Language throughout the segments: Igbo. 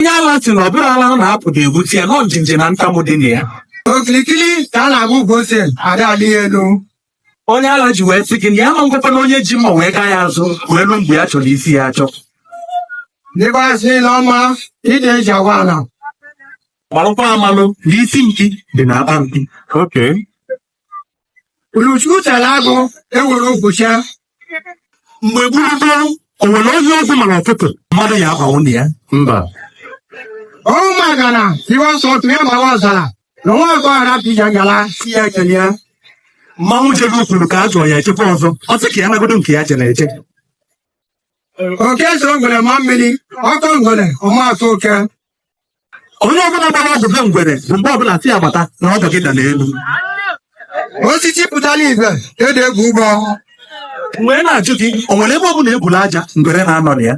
onye ala sị na ọ bụrọ ala ọ na-apụ ga-egbusi ya na ọ njenje na ntamu dị na ya okirikiri ka a na-agba ukwu ose ada alị ya elu onye ala ji wee sị gị na ya ma ngwakwa na onye ji mma wee gaa ya azụ wee ruo mgbe ya chọrọ isi ya achọ dịkwasị ile ọma ide eji agwa ala malụkwa amalụ na isi mkpi dị na akpa mkpi Okay. Uruchukwu tara agụ ewere ụbụcha mgbe gburugburu o nwere onye ọgwụ mara ọtụtụ mmadụ ya abụ nwunye ya mba ọ maka na iwe nsọ otu ya gbawa ọzara na nwa ọgọ ara pija gara si ya ekele ya mmanwụ jebe kwuru ka a jụọ ya ejekwa ọzọ ọ sị ka ya nagodo nke ya jere eje oke so ngwere ma mmiri ọ kọ ngwere ọ ma akọ oke onye ọbụla mara ọdụ ha ngwere bụ mgbe ọbụla si agbata na ọdụ gị da n'elu osisi pụtara igwe ede egwu ụgbọ wee na-ajụ gị o nwere ebe ọbụla ebula aja ngwere na-anọ na ya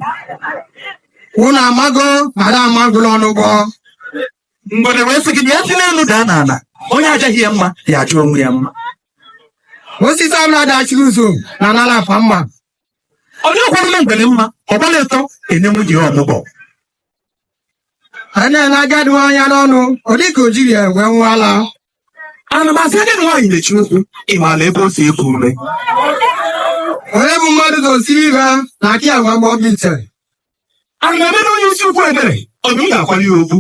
unu amago mara amagụla ọnụgbọ ngwere wee sị gị na ya si n'elu daa n'ala onye ajaghị ya mma ya ajaa onwe ya mma osisi ọbụla dachiri ụzọ na anala afa mma onye ọkwara ngwere mma ọ gbara ịtọ ene nwunye ya ọmụgwọ a na-ele agadi nwaanyị anya n'ọnụ ọ dịka o jirọ ya wee ṅụọ ala ama m asị agadi nwaanyị mechie ụkwụ ị maara ebe o si eku ume onye bụ mmadụ gosiri ibe ha na akị agwa mgbe ọ bitere ana m emere onye isi ukwu ebere ọ bụ m ga-akwara ya okpu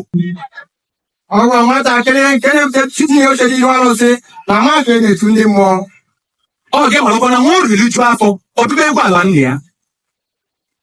ọ gwa nwatakịrị nke na-ebute tinye oche n'ihu arụsị na mmadụ e na-etu ndị mmụọ ọ ga-ewere ọkwa na nwa oru riju afọ ọ gụbe egwu ala nna ya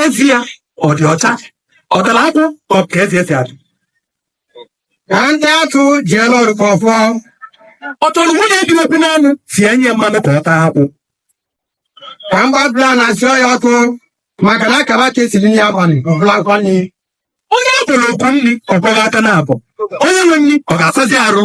eze ya ọ dị ọcha ọ tara akwụ ka ọ ka eze esi adị ka ndị atụ ji elu ọrụ ka ọfọ ọ chọrọ nwunye dị obi n'anụ si enye ya mmanụ ka ọ taa akwụ ka mgbabla na asị ọya ọkụ maka na a kaba ka esiri nri abalị ọbụla akwa nri onye a kpọrọ oku nri ọ kwọọ aka na abụọ onye nwe nri ọ ga-asazi arụ